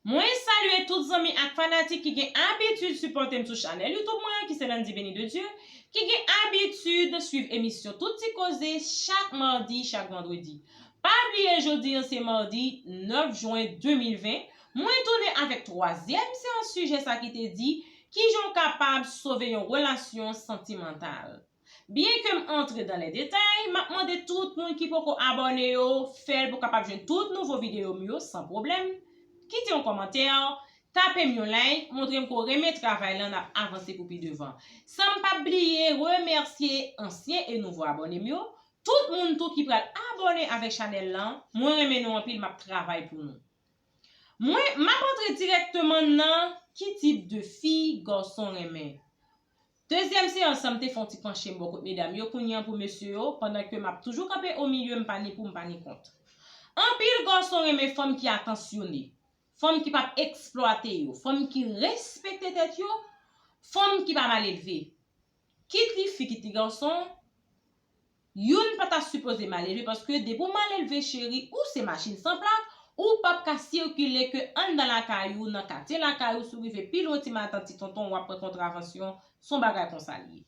Mwen salye tout zanmi ak fanatik ki gen abitid sipòte m sou chanèl YouTube mwen an ki se Landy Beni de Dieu, ki gen abitid swiv emisyon Tout Ti Koze chak madi, chak vandredi. Pa bliye jodi an se madi 9 jwen 2020, mwen tounen avèk twazyèm seyans sijè sa ki te di, Kijan w kapab sove yon relasyon santimantal? Byen kem antre dan lè detay, map mande tout moun ki poko abòne yo fèl pou kapab jwenn tout nouvo videyo m yo san pwoblèm, kite yon kòmantè, tapem yon like, montrem ke w renmen travay lan nap avanse pou pi devan. Sanm pap bliye remèsye ansyen e nouvo abòne m yo, tout moun tou ki pral abòne avèk chanèl lan, mwen renmen nou anpil map travay pou nou. Mwen map antre dirèkteman nan ki tip de fi gason renmen. Dezyèm seyans lan m te fè yon ti panche m bò kot medam yo kounye an pou mesye yo, pandan ke m ap toujou kanpe o milye m pa ni pou m pa ni kont. Anpil gason renmen fanm ki atansyone, fanm ki pap eksplwate yo, fanm ki respekte tèt yo, fanm ki pa mal elve. Kit li fi kit li gason, Youn pa ta sipoze malelve paske depi w malelve cheri ou se machin san plak ou pap ka sikile ke anndan lakay ou nan katye lakay ou si w rive pi lwen ti matant ti tonton wap pran kontravansyon s on bagay konsa l ye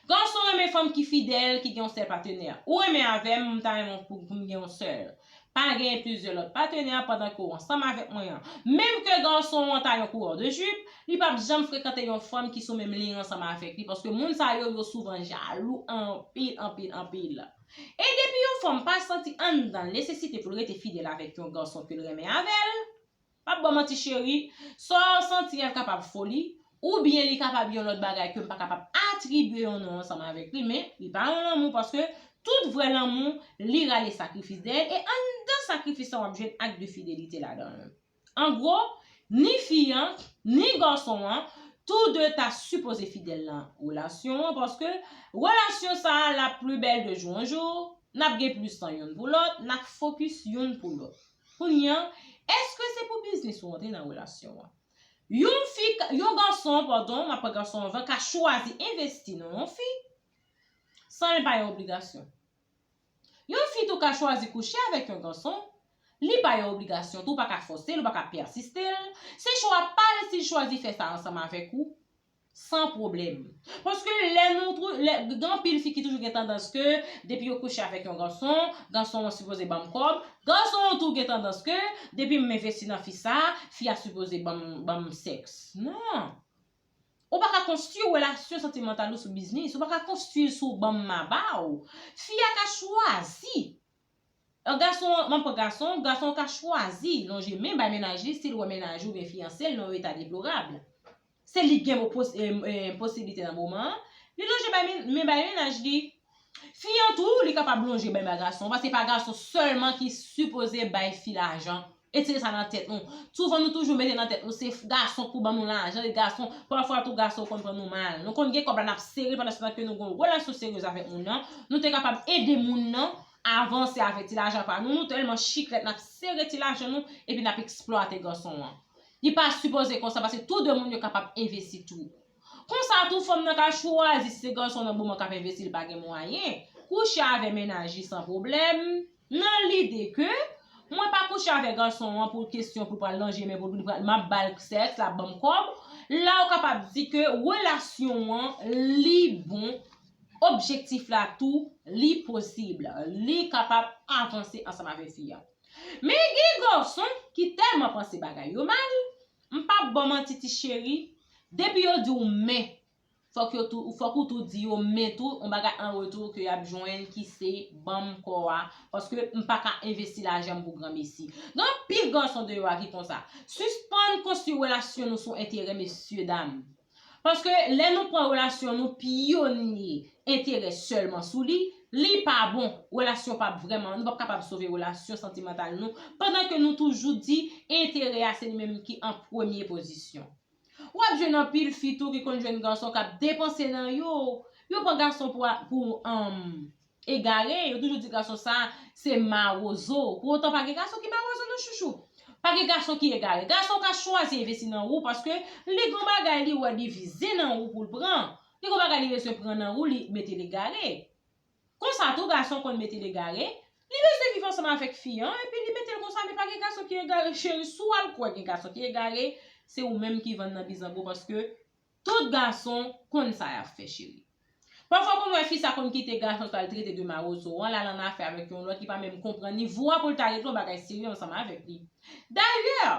Gason renmen fanm ki fidèl ki gen yon sèl patenè ou renmen avè m m ta renmen w pou m gen yon sèl Pa genyen plizyè lòt patenè pandan ke w ansanm avèk mwen an. Menm ke gason an ta yon kourè de jip, li pap janm frekante yon fanm ki sou menm liy ansanm avèk li paske moun sa yo, yo souvan jalou anpil, anpil, anpil. E depi yon fanm pa santi anndan l nesesite pou l rete fidèl avèk yon gason ke l renmen avè l, Pap baw manti cheri, saw santi a kapab foli, ou byen li kapab yon lòt bagay kem pa kapab atribye yon non ansanm avèk li men li pa yon lanmou paske tout vrè lanmou li rale sakrifis dèyèl e anndan sakrifis lan wap jwenn ak de fidelite ladanl. An gwo, ni fi an, ni gason an, tou de ta sipoze fidèl nan relasyon an paske relasyon sa lap pli bèl de jou an jou, nap gen plis tan youn pou lòt, nap fokis youn pou lòt. Kounye an, èske se pou biznis ou antre nan relasyon an? Yon fi, yon gason, padon, m ap pran gason anvan, ka chwazi envesti nan yon fi san li pa yon obligasyon. Yon fi tou ka chwazi kouche avèk yon gason, li pa yon obligasyon tou, ou pa ka fòse l, ou pa ka pèsiste l, se chwa pa l si l chwazi fè sa ansanm avèk ou. San pwoblèm. Paske lè nou twou, lè, gen anpil fi ki toujou gen tandans ke, depi yo kouche avèk yon gason, gason an sipoze banm kòb, gason an tou gen tandans ke, depi m envesti nan fi sa, fi a sipoze banm, banm sèks. Non! Ou pa ka konstwi relasyon santimantal ou sou biznis, ou pa ka konstwi l sou banm ma ba w. Fi a ka chwazi An gason an, m'ap pran gason an, gason an ka chwazi lonje men bay mennaj li si l wè mennaj oubyen fiyanse l nan yon eta deplorab. Se li k gen mo pos, ee, posiblite nan moman an, li lonje bay men, men bay mennaj li. Fi an tou, li kapab lonje men bay gason an, paske se pa gason sèlman ki sipoze bay fi lajan Etire sa nan tèt nou. Souvan nou toujou mete nan tèt nou se gason pou ban nou lajan, e gason, pafwa tou gason konn pran nou mal. Nou konn gen kòb la nap sere pandan se tan ke nou gen yon relasyon seryez avèk moun nan, nou te kapab ede moun nan avanse avèk ti lajan pa nou, nou tèlman chiklèt nap sere ti lajan nou epi nap eksplwate gason an. Li pa sipoze konsa paske tou 2 moun yo kapab envesti tou. Konsa tou fanm nan ka chwazi si se gason nan moman k ap envesti li pa gen mwayen, kouche avè mennaj li san pwoblèm, nan lide ke, mwen pa kouche avè gason an pou kesyon pou l pral nan je men pou l vin m ap ba l sèks, l ap ban m kòb, la ou kapab di ke relasyon an li bon, objektif la tou li posib, li kapab avanse ansanm avè fi a. Men gen gason ki tèlman panse bagay yo mal, M pap baw manti ti cheri, depi yo diw men, fòk yo tou, fòk ou tou di yo men tou yon bagay an retou ke yap jwenn ki se banm kò a, paske m pa ka envesti lajan m pou granmesi. Gen anpil gason deyò a ki konsa. Sispann konstwi relasyon nou sou enterè mesye dam. Paske lè nou pran relasyon nou pyonye enterè sèlman sou li, li pa bon, relasyon pap vrèman, nou pap kapab sove relasyon santimantal nou pandan ke nou toujou di enterè a se li menm ki an premye pozisyon. Wap jwenn anpil fi tou ki konn jwenn gason kap depanse nan yo, yo pran gason pou anm. Egare, yo toujou di gason sa a se mawozo. Pou otan pa gen gason ki mawozo non chouchou. Pa gen gason ki egare. Gason ka chwazi envesti nan ou paske li gon bagay li wè li vize nan ou pou l pran. Li gon bagay li bezwen pran nan ou li mete l egare. Konsa tou gason konn mete l egare, li bezwen viv ansanm avèk fi an epi li mete l konsa men pa gen gason ki egare cheri si w al kwè gen gason ki egare se ou menm ki vann nan bizango paske Tout gason konn sa yap fè cheri. Pafwa ou konn wè fi sa konn kite gason sa al trete de marozo an lal an afè avèk yon lòt li pa menm konprann ni vo a poul ta regle yon bagay serye ansanm avèk li. Dayè,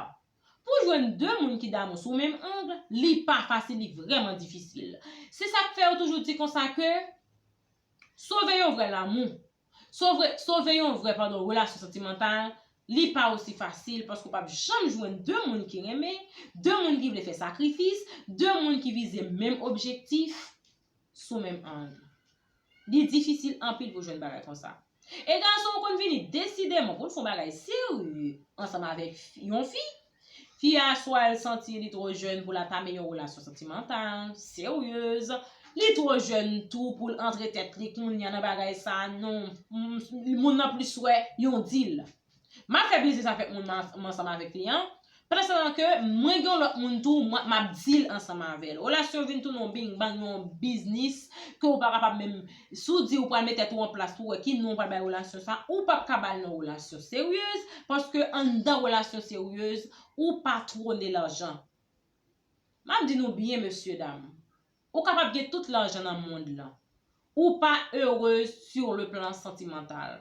pou jwenn 2 moun ki damou sou menm angle, li pa fasil li vrèman difisil. Se sak fè yo toujou di konsa ke sove yon vrè lamou Sovre, sove yon vrè pandan relasyon santimantal, li pa osi fasil paske w pap janm jwenn 2 moun ki renmen, 2 moun ki vle fè sakrifis, 2 moun ki vize menm objektif, sou menm ang. Li difisil anpil pou jwenn bagay konsa. E gason yo konn vini desideman pou n fon bagay serye ansanm avèk yon fi, Fi a swa l santi li twò jèn pou l atame yon relasyon santimantal, seryez, li twò jèn tou pou l antre tèt li kounya nan bagay sa non, moun nan plis wè yon dil. M ap fè biznis avèk moun m ansanm avèk li an, pandanstan ke mwen gen yon lòt moun tou m ap dil ansanm avè l. Relasyon vin tounen yon bing bang, yon biznis ke ou pa kapab menm. Si w di ou pral met tèt ou an plas pou w wè ki non ou pral bay relasyon sa, ou pap ka ba l non relasyon seryez, paske anndan relasyon seryez, ou pa twone lajan. M ap di nou byen mesye dam, ou kapab gen tout lajan nan mond lan, ou pa erez sur le plan sentimental.